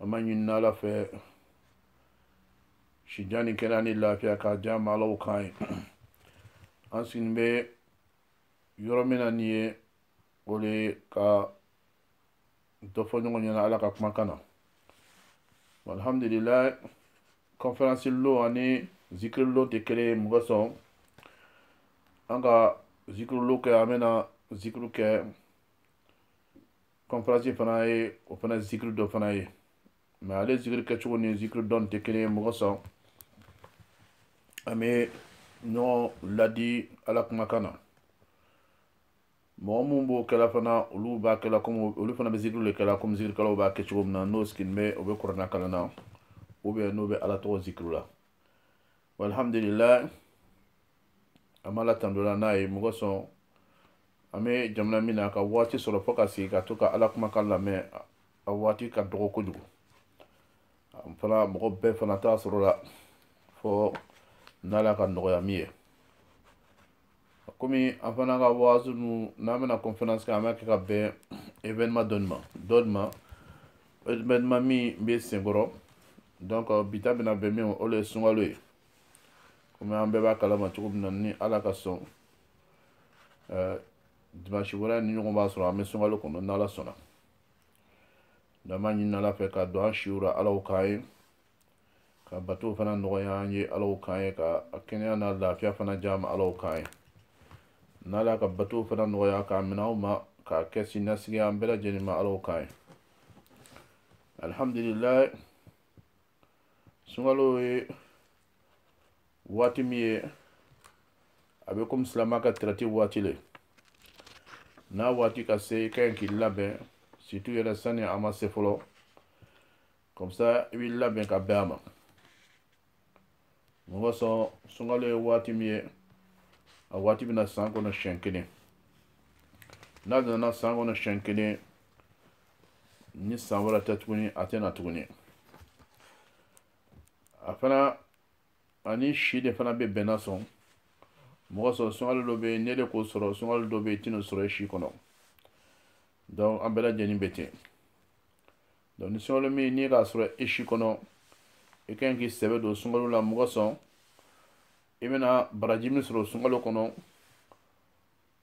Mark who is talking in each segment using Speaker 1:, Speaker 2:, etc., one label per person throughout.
Speaker 1: an b'a ɲini ala fɛ sijan ni kɛnɛya ni lafiya k'a di an ma ala o k'an ye an sigilen bɛ yɔrɔ min na nin ye o de ye ka dɔ fɔ ɲɔgɔn ɲɛna ala ka kumakan na alhamdulilayi kɔnferansi lon ani zikiri lon tɛ kelen ye mun kosɔn an ka zikiri lon kɛ an bɛna zikiri kɛ kɔnfɛransi fana ye o fana zikiri dɔ fana ye mɛ ale zikiri kɛcogo ni zikiri don tɛ kelen ye mun kosɔn an bɛ ɲɔgɔn ladi ala kumakan na mɔgɔ minnu b'o kɛla fana olu b'a kɛla komi olu fana bɛ zikiri de kɛla komi zikirikɛlaw b'a kɛ cogo min na n'o sigilen bɛ o bɛ kurana kalan na ubiyɛn n'o bɛ ala tɔgɔ zikiri la walhamdulilayi an b'ala tando la n'a ye mun kosɔn an bɛ jamana min na ka waati sɔrɔ fo ka sigi ka to ka ala kumakan lamɛn a waati ka dɔgɔ kojugu an fana mɔgɔ bɛɛ fana t'a sɔrɔ la fo n'ala k'a nɔgɔya min ye komi an fana ka waazu nu n'an bɛna conférence kɛ an b'a kɛ ka bɛn événement dɔni ma dɔni ma événement min bɛ senkɔrɔ donc bi ta bɛna bɛn min ma o de ye sunkalo ye komi an bɛɛ b'a kalama cogo min na ni ala ka sɔn eh, dimanche wɛrɛ nin ɲɔgɔn b'a sɔrɔ an bɛ sunkalo kɔnɔ n'ala sɔnna donc an b'a ɲini ala fɛ k'a don an si la ala o k'an ye k'a bato fana nɔgɔya an ye ala o k'an ye ka a kɛnɛya n'a lafiya fana di an ma ala o k'an ye n'ala k'a bato fana nɔgɔya k'a minɛ an ma k'a kɛ siniɲɛsigi an bɛɛ lajɛlen ma ala o k'an ye alihamdulilayi sunkalo ye waati min ye a bɛ komi silamɛ ka traite waati le n'a waati ka se i ka ɲi k'i labɛn surtout yɛrɛ sani a ma se fɔlɔ kɔmisa i b'i labɛn ka bɛn a ma mun kosɔn sunkalo ye waati min ye a waati bɛ na san kɔnɔ siɲɛ kelen n'a nana san kɔnɔ siɲɛ kelen ni san wɛrɛ tɛ tuguni a tɛ na tuguni a fana ani si de fana bɛ bɛn'a sɔrɔ mun kosɔn sunkalo dɔ bɛ yen ne de k'o sɔrɔ sunkalo dɔ bɛ yen i tɛn'o sɔrɔ i si kɔnɔ donc an bɛɛ lajɛlen bɛ ten donc ni sunkalo min n'i k'a sɔrɔ i si kɔnɔ i ka ɲi k'i sɛbɛ don sunkalo la mun kosɔn i bɛna baraji min sɔrɔ sunkalo kɔnɔ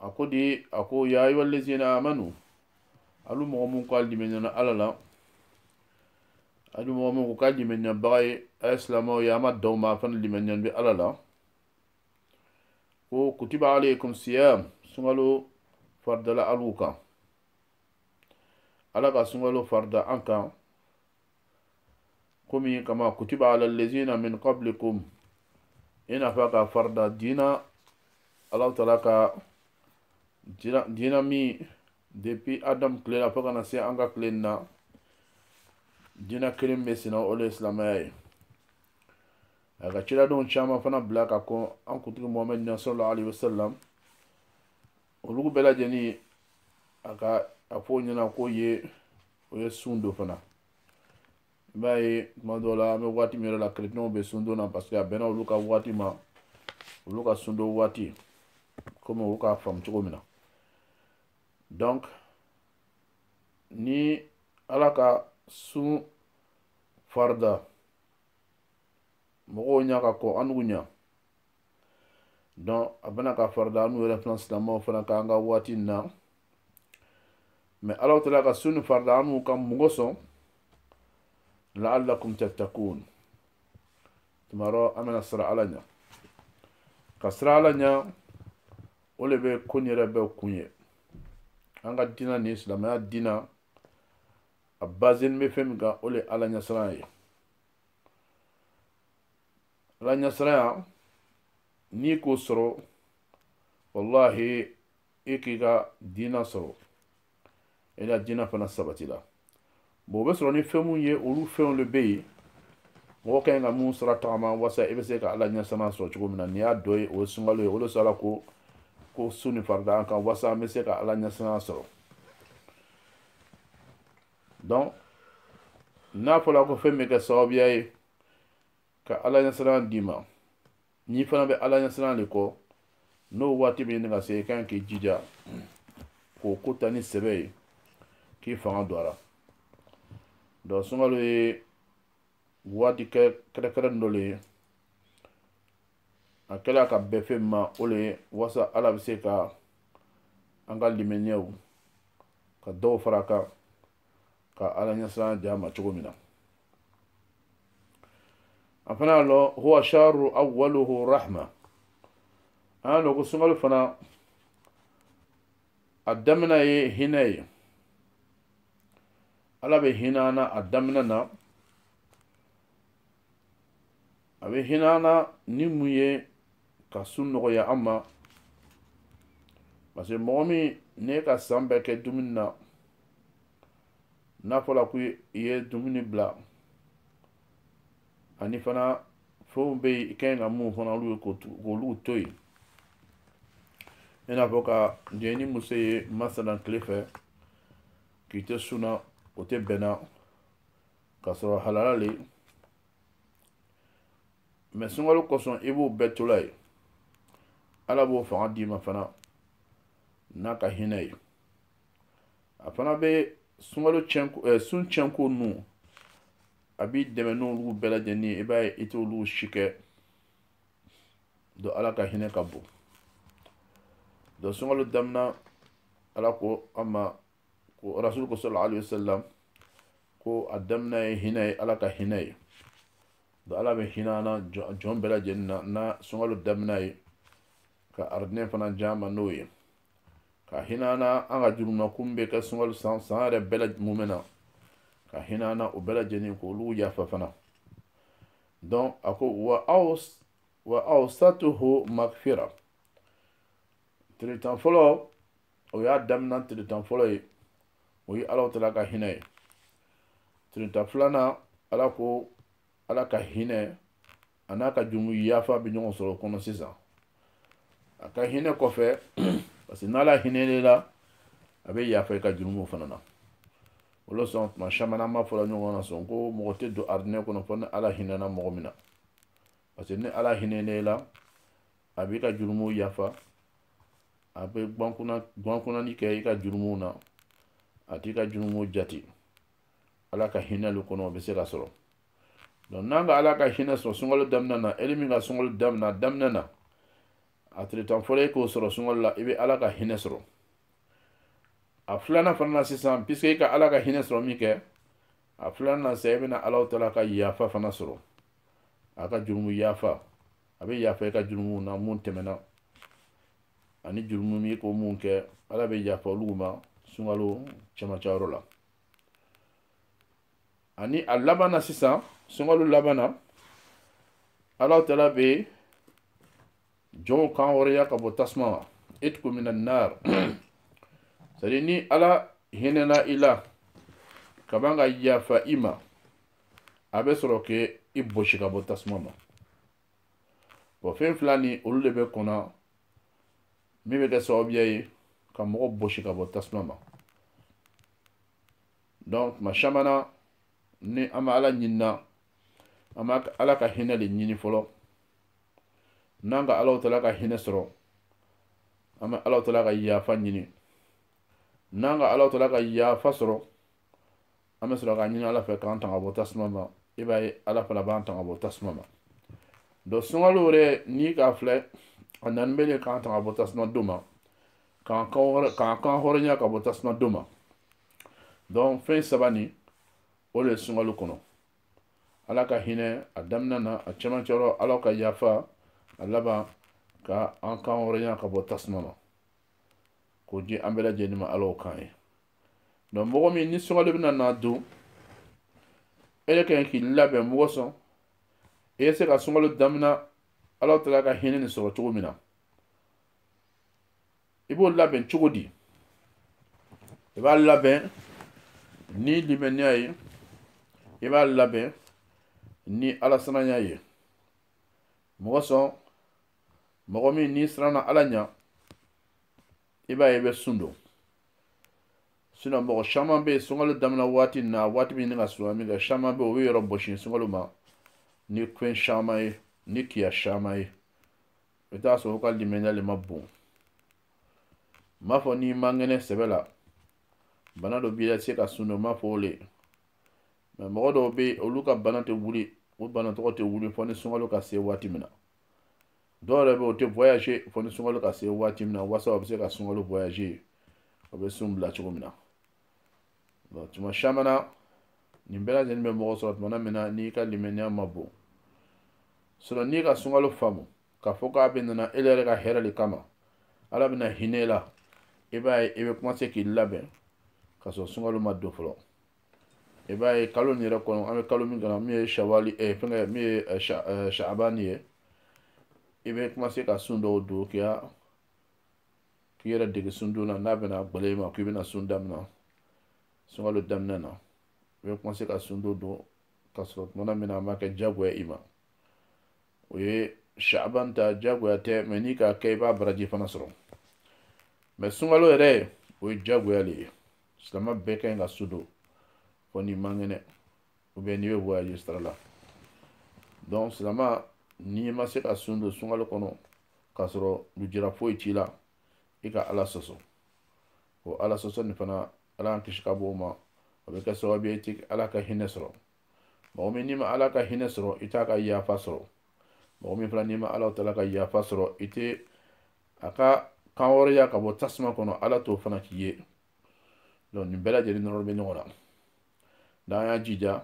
Speaker 1: a ko di a ko ya ayuha allazina amanu alu mɔgɔ mun ko a limaniyana ala la alu mɔgɔ mun ko k'a limaniyabaga ye a ye silamɛw ye a ma daw ma a fana limaniyanin bɛ ala la ko kutiba alaykum siyam sunkalo faridala alu kan ala ka sunkalo farida an kan komi kama kutiba ala lazina min qablikum i n'a fɔ k'a farida diina alahu taala ka diina min depuis adamu tile la fo ka na se an ka tile na diina kelen bɛ senna o le ye silamɛya ye a ka ciradenw caman fana bila ka kɔn an kuntigi mohamɛd ɲa sallallahu alaihi wasallam olugu bɛɛ lajɛlen a ka a fɔ o ɲɛna k'o ye o ye sun don fana i b'a ye tuma dɔw la an bɛ waati min yɛrɛ la kerecɛnw bɛ sun don na parce que a bɛnna olu ka waati ma olu ka sun don waati komi olu k'a faamu cogo min na donc ni ala ka sun farida mɔgɔw ɲa ka kɔn anugu ɲa donc a bɛna k'a farida anu yɛrɛ fana silamɛw fana kan an ka waati in na mais alahu taala ka sun nin farida anu kan mun kosɔn la'allakum tattakun tumarɔ an bɛna siran ala ɲa ka siran ala ɲa o le bɛ ko nin yɛrɛ bɛɛ kun ye an ka diina nin silamɛya diina a bazen bɛ fɛn min kan o le ye ala ɲɛsiran ye ala ɲasiranya n'i k'o sɔrɔ walahi i k'i ka diina sɔrɔ i ka diina fana sabatila bon o bɛ sɔrɔ ni fɛn minnu ye olu fɛnw le bɛ yen mɔgɔ ka ɲi ka mun sira tagama walasa i bɛ se ka ala ɲɛsiran sɔrɔ cogo min na n'i y'a dɔ ye o ye sunkalo ye o de sɔrɔ ala ko ko sun nin farida an kan walasa an bɛ se ka ala ɲɛsiran sɔrɔ donc n'a fɔra ko fɛn bɛ kɛ sababuya ye ka ala ɲɛsiran d'i ma n'i fana bɛ ala ɲɛsiran de kɔ n'o waati bɛ ɲini ka se i kan k'i jija k'o ko ta ni sɛbɛ ye k'i fanga don a la donc sunkalo ye waati kɛrɛnkɛrɛnnin dɔ le ye a kɛla ka bɛn fɛn mun ma o le ye walasa ala bɛ se ka an ka limaniyaw ka dɔw fara a kan ka ala ɲɛsiran di a ma cogo min na an fana y'a lɔn huwa shahru awwaluhu rahma an y'a lɔn ko sunkalo fana a damina ye hinɛ ye ala bɛ hinɛ an na a damina na a bɛ hinɛ an na ni mun ye ka sun nɔgɔya an ma parce que mɔgɔ min ne ka san bɛɛ kɛ dumuni na n'a fɔla ko i ye dumuni bila ani fana fɛnw bɛ yen i ka ɲi ka mun fana olu ye k'olu to yen i n'a fɔ ka jɛ ni muso ye masalan tile fɛ k'i tɛ sun na o tɛ bɛnna ka sɔrɔ halala le mais sunkalo kosɔn i b'o bɛɛ tola yen ala b'o fanga d'i ma fana n'a ka hinɛ ye a fana bɛ sunkalo tiɲɛko ɛ eh, sun tiɲɛko ninnu a b'i dɛmɛ n'olu bɛɛ lajɛlen ye i b'a ye i t'olu si kɛ donc ala ka hinɛ ka bon donc sunkalo daminɛ ala ko an ma ko rasul ko sallallahu alaihi wasallam ko a daminɛ ye hinɛ ye ala ka hinɛ ye donc ala bɛ hinɛ an na jɔn bɛɛ lajɛlen na na sunkalo daminɛ ye ka aridinɛ fana di an ma n'o ye ka hinɛ an na an ka jurumu an kun bɛ kɛ sunkalo san san yɛrɛ bɛɛ mumɛ na ka hinɛ an na o bɛɛ lajɛlen k'olu yafa fana donc a ko wa awsatuhu makfira tile tan fɔlɔ o y'a daminɛ tile tan fɔlɔ ye o ye ala tala ka hinɛ ye tile tan filanan ala ko ala ka hinɛ a n'a ka jurumu yafa bɛ ɲɔgɔn sɔrɔ o kɔnɔ sisan a ka hinɛ kɔfɛ parce que n'ala hinɛna i la a bɛ yafa i ka jurumu fana na o le sɔn tuma caman an b'a fɔla ɲɔgɔn na sɔn ko mɔgɔ tɛ don aridinɛ kɔnɔ fo ni ala hinɛna mɔgɔ min na parce que ni ala hinɛna i la a b'i ka jurumu yafa a bɛ gwankunani kɛ i ka jurumu na a t'i ka jurumu jate ala ka hinɛ lu kɔnɔ o bɛ se ka sɔrɔ donc n'an ka ala ka hinɛ sɔrɔ sunkalo daminɛ na ele min ka sunkalo daminɛ daminɛ na a tile tan fɔlɔ e k'o sɔrɔ sunkalo la i bɛ ala ka hinɛ sɔrɔ a filanan fana na sisan puisque i ka ala ka hinɛ sɔrɔ minkɛ a filanan na sisan i bɛna ala tala ka yafa fana sɔrɔ a ka jurumu yafa a bɛ yafa i ka jurumu na mun tɛmɛna ani jurumu min ko mun kɛ ala bɛ yafa olu ma sunkalo cɛmancɛ yɔrɔ la ani a laban na sisan sunkalo laban na ala tala bɛ jɔnw kan hɔrɔnya ka bɔ tasuma ma itku mina nar c'est à dire ni ala hinɛna i la ka ban ka yafa i ma a bɛ sɔrɔ k'i bosi ka bɔ tasuma ma bon fɛn fila nin olu de bɛ kɔnɔ min bɛ kɛ sababuya ye ka mɔgɔ bosi ka bɔ tasuma ma donc tuma caman na ni an bɛ ala ɲinina an bɛ ala ka hinɛ de ɲini fɔlɔ n'an ka ala taala ka hinɛ sɔrɔ an bɛ ala taala ka yafa ɲini n'an ka ala taala ka yafa sɔrɔ an bɛ sɔrɔ ka ɲini ala fɛ k'an tanga bɔ tasuma ma i b'a ye ala fana b'an tanga bɔ tasuma ma donc sunkalo yɛrɛ n'i k'a filɛ a nani bɛ le k'an tanga bɔ tasuma don ma k'an kan hɔrɔnya ka bɔ tasuma don ma donc fɛn saba nin o de ye sunkalo kɔnɔ ala ka hinɛ a daminɛ na a cɛmancɛ yɔrɔ ala ka yafa a laban ka an kan hɔrɔnya ka bɔ tasuma ma k'o di an bɛɛ lajɛlen ma ala o k'an ye donc mɔgɔ min ni sunkalo bɛna na don e de ka kan k'i labɛn mun kosɔn i bɛ se ka sunkalo damina ala taala ka hinɛ nin sɔrɔ cogo min na i b'o labɛn cogo di i b'a labɛn ni limaniya ye i b'a labɛn ni alasiranya ye mun kosɔn mɔgɔ min n'i siranna ala ɲa i b'a ye i bɛ sun don sinɔn mɔgɔ caman bɛ yen sunkalo daminɛ waati na waati min ka suma min kɛ caman bɛ yen o b'o yɛrɛ bɔsi sunkalo ma ni fɛn caman ye ni kiya caman ye i bɛ taa sɔrɔ u ka limaniya le ma bon n m'a fɔ n'i man kɛnɛ sɛbɛ la bana dɔ b'i la i tɛ se ka sun don n m'a fɔ o le mɛ mɔgɔ dɔw bɛ yen olu ka bana tɛ wuli o bana tɔgɔ tɛ wuli fo ni sunkalo ka se waati min na dɔw yɛrɛ bɛ o tɛ voyager fo ni sunkalo ka se waati min na wasa o bɛ se ka sunkalo voyager o bɛ sun bila cogo min na bon tuma caman na nin bɛɛ lajɛlen bɛ mɔgɔ sɔrɔ tuma min na n'i ka limaniya ma bon sinɔn n'i ka sunkalo faamu k'a fɔ k'a bɛ nana e yɛrɛ ka hɛrɛ de kama ala bɛna hinɛ i la i b'a ye i bɛ kumase k'i labɛn ka sɔrɔ sunkalo ma don fɔlɔ i b'a ye kalo nin yɛrɛ kɔnɔ an bɛ kalo min kɔnɔ min ye shawali eh, fɛngɛ min ye eh, sha, eh, shaabani ye i bɛ kumase ka sun dɔw don k'i ya k'i yɛrɛ dege sundon na n'a bɛna gbɛlɛ i ma k'i bɛna sun daminɛ sunkalo daminɛ na i bɛ kumase ka sun dɔ don ka sɔrɔ tuma min na a ma kɛ jagoya i ma o ye shaaban ta jagoya tɛ mɛ n'i k'a kɛ i b'a baraji fana sɔrɔ mɛ sunkalo yɛrɛ o ye jagoya le ye silama bɛɛ ka ɲi ka sun don fo n'i man kɛnɛ ou bien n'i bɛ voyage sira la donc silama n'i ma se ka sun don sunkalo kɔnɔ k'a sɔrɔ lujura foyi t'i la i ka ala sɔsɔ o ala sɔsɔ nin fana ala y'an kisi ka bɔ o ma o bɛ kɛ sababu ye i tɛ ala ka hinɛ sɔrɔ mɔgɔ min n'i ma ala ka hinɛ sɔrɔ i t'a ka yafa sɔrɔ mɔgɔ min fana n'i ma ala tala ka yafa sɔrɔ i tɛ a ka kan hɔrɔnya ka bɔ tasuma kɔnɔ ala t'o fana k'i ye donc nin bɛɛ lajɛlen nɔrɔ bɛ ɲɔgɔn na n'an y'a jija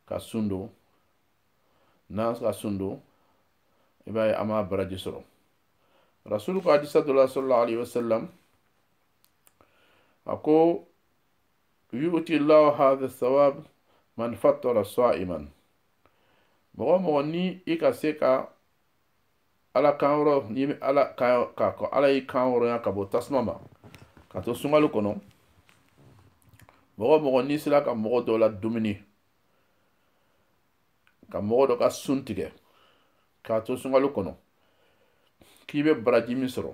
Speaker 1: ka sun don n'an ka sun don i b'a ye an b'a baraji sɔrɔ rasulu ko hadisa dɔ la sallallahu alaihi wasallam a ko yuti llahu hadha thawab man fattara sa'iman mɔgɔ mɔgɔ ni i ka se ka ala kan hɔrɔn n'i bɛ ala kan ko ala y'i kan hɔrɔnya ka bɔ tasuma ma ka to sunkalo kɔnɔ mɔgɔ mɔgɔ n'i sela ka mɔgɔ dɔ ladumuni ka mɔgɔ dɔ ka sun tigɛ k'a to sunkalo kɔnɔ k'i bɛ baraji min sɔrɔ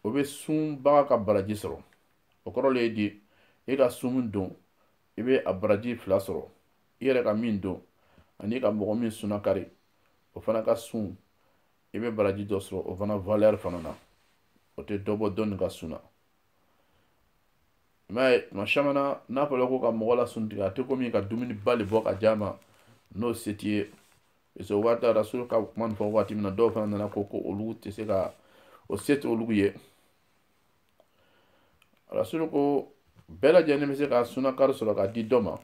Speaker 1: o bɛ sunbaga ka baraji sɔrɔ o kɔrɔ le ye di e ka sun don i bɛ a baraji fila sɔrɔ i yɛrɛ ka min don ani ka mɔgɔ min sunakari o fana ka sun i bɛ baraji dɔ sɔrɔ o fana valeur fana na o tɛ dɔ bɔ dɔ nin ka sun na i m'a ye tuma caman na n'a fɔla ko ka mɔgɔ lasun tigɛ a tɛ komi ka dumuniba le bɔ ka d'a ma n'o se t'i ye parce que o waati rasulu ka kuma nin fɔ waati min na dɔw fana nana ko ko olu tɛ se ka o se tɛ olu ye rasulu ko bɛɛ lajɛlen bɛ se ka sunakari sɔrɔ ka di dɔ ma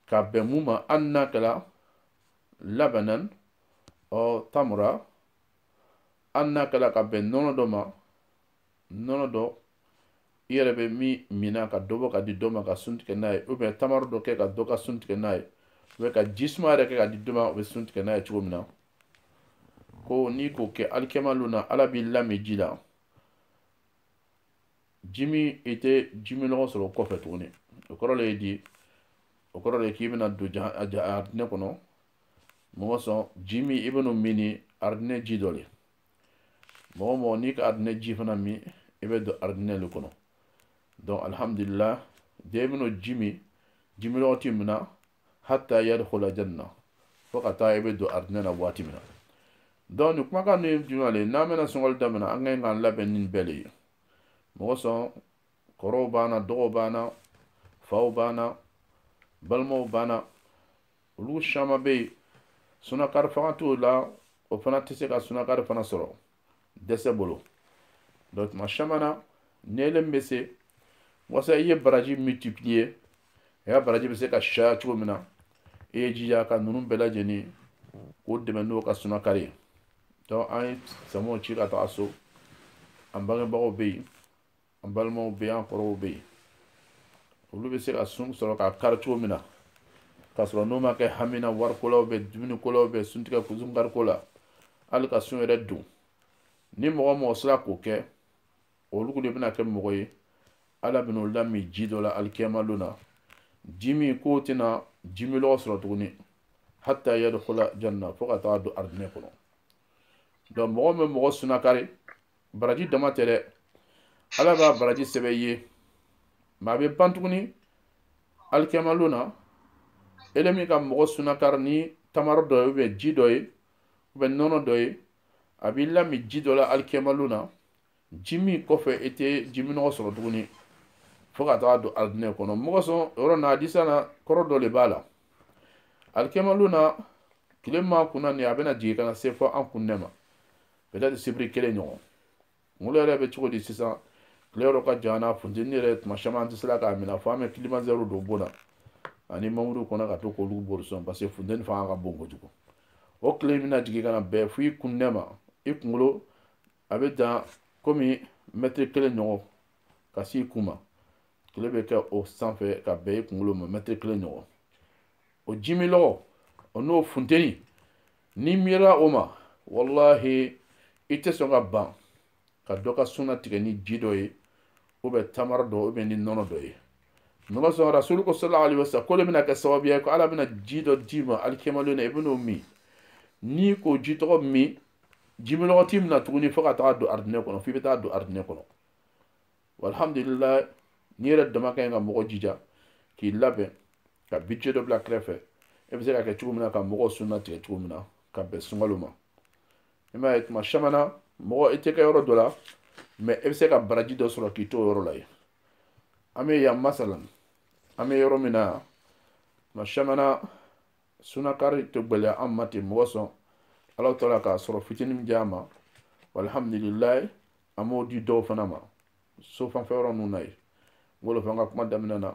Speaker 1: ka bɛn mun ma hali n'a kɛla labanan aw tamra hali n'a kɛla ka bɛn nɔnɔ dɔ ma nɔnɔ dɔ i yɛrɛ bɛ min minna ka dɔ bɔ ka di dɔ ma ka sun tigɛ n'a ye ou bien tamaro dɔ kɛ ka dɔ ka sun tigɛ n'a ye ou bien ka ji suma yɛrɛ kɛ ka di dɔ ma o bɛ sun tigɛ n'a ye cogo min na ko n'i k'o kɛ alikiyama lon na ala b'i lamin ji la ji min i tɛ jiminlɔgɔ sɔrɔ o kɔfɛ tuguni o kɔrɔ le ye di o kɔrɔ le ye k'i bɛna don aridinɛ kɔnɔ mun kosɔn ji min i bɛn'o min ni aridinɛ ji dɔ le mɔgɔ mɔgɔ n'i ka aridinɛ ji fana min i bɛ don aridinɛ le kɔnɔ donc alihamudulila den bɛn'o ji min jiminlɔgɔ t'i mina hatta yadkhula janna fo ka taa i bɛ don arijinɛ na waati min na donc nin kumakan ninnu ye jumɛn le ye n'an bɛna sunkalo daminɛ an ka ɲi k'an labɛn ni nin bɛɛ le ye mun kosɔn kɔrɔw b'an na dɔgɔw b'an na faw b'an na balimaw b'an na olu caman bɛ yen sunakari fanga t'o la o fana tɛ se ka sunakari fana sɔrɔ dɛsɛ bolo donc tuma caman na n'ele bɛ se wasa i ye baraji multiplier i ka baraji bɛ se ka caya cogo min na i y'i jija ka ninnu bɛɛ lajɛlen k'o dɛmɛ n'o ka sunakari ye donc an ye samaw ci ka taga so an bangebagaw bɛ yen an balimaw bɛ yen an kɔrɔw bɛ yen olu bɛ se ka sun sɔrɔ k'a kari cogo min na k'a sɔrɔ n'o ma kɛ hami na wariko la dumuniko la suntigɛko sunkariko la hali ka sun yɛrɛ don ni mɔgɔ mɔgɔ sera k'o kɛ olu de bɛna kɛ mɔgɔ ye ala bɛna olu lamin ji dɔ la alikiyama don na ji min kɔ o tɛna jimilɔgɔ sɔrɔ tuguni hatta yadkhula janna fo ka taa don aridinɛ kɔnɔ donc mɔgɔ bɛ mɔgɔ sunakari baraji dama tɛ dɛ ala b'a baraji sɛbɛ i ye mais a bɛ ban tuguni alikiyama lon na ele min ka mɔgɔ sunakari ni tamaro dɔ ye ou bien ji dɔ ye ou bien nɔnɔ dɔ ye a b'i lamin ji dɔ la alikiyama lon na ji min kɔfɛ i tɛ jiminnɔgɔ sɔrɔ tuguni fo ka taga don aridinɛ kɔnɔ mɔgɔ sɔn yɔrɔ na hadisi na kɔrɔ dɔ le b'a la alikiyama lon na tile ma kunna nin a bɛna jigin ka na se fɔ an kunnɛ ma peut-être sibiri kelen ɲɔgɔn kunkolo yɛrɛ bɛ cogo di sisan tile yɔrɔ ka jan na funteni yɛrɛ tuma caman an tɛ se la k'a minɛ fo an bɛ climatiseur don bon na ani mamuru kɔnɔ ka to k'olu bori sɔn parce que funteni fanga ka bon kojugu o tile bɛna jigin ka na bɛn fo i kunnɛ ma i kunkolo a bɛ dan komi mɛtiri kelen ɲɔgɔn ka s'i kun ma tile bɛ kɛ o sanfɛ ka bɛn i kunkolo ma mɛtiri kelen ɲɔgɔn o jimilɔgɔ o n'o funteni n'i miirira o ma walahi i tɛ sɔn ka ban ka dɔ ka suna tigɛ ni ji dɔ ye ou bien tamaro dɔ ou bien ni nɔnɔ dɔ ye nɔgɔ sɔn rasulu ko sallallahu alaihi wasallam k'o le bɛna kɛ sababuya ye ko ala bɛna ji dɔ d'i ma alikiyama lon na i bɛn'o min n'i k'o ji tɔgɔ min jimilɔgɔ t'i minɛ tuguni fo ka taga don aridinɛ kɔnɔ f'i bɛ taa don aridinɛ kɔnɔ walhamdulillah n'i yɛrɛ dama ka ɲi ka mɔgɔ jija k'i labɛn ka budget dɔ bila kɛrɛfɛ e bɛ se ka kɛ cogo min na ka mɔgɔw suna tigɛ cogo min na ka bɛn sunkalo ma i m'a ye tuma caman na mɔgɔ i tɛ kɛ yɔrɔ dɔ la mais e bɛ se ka baraji dɔ sɔrɔ k'i to o yɔrɔ la yen an bɛ yan masalan an bɛ yɔrɔ min na yan tuma caman na sunakari tɛ gɛlɛya an ma ten mɔgɔ sɔn ala taala ka sɔrɔ fitinin min di an ma walhamdulilayi an b'o di dɔw fana ma so fanfɛ yɔrɔ ninnu na yen n b'o de fɔ an ka kuma daminɛ na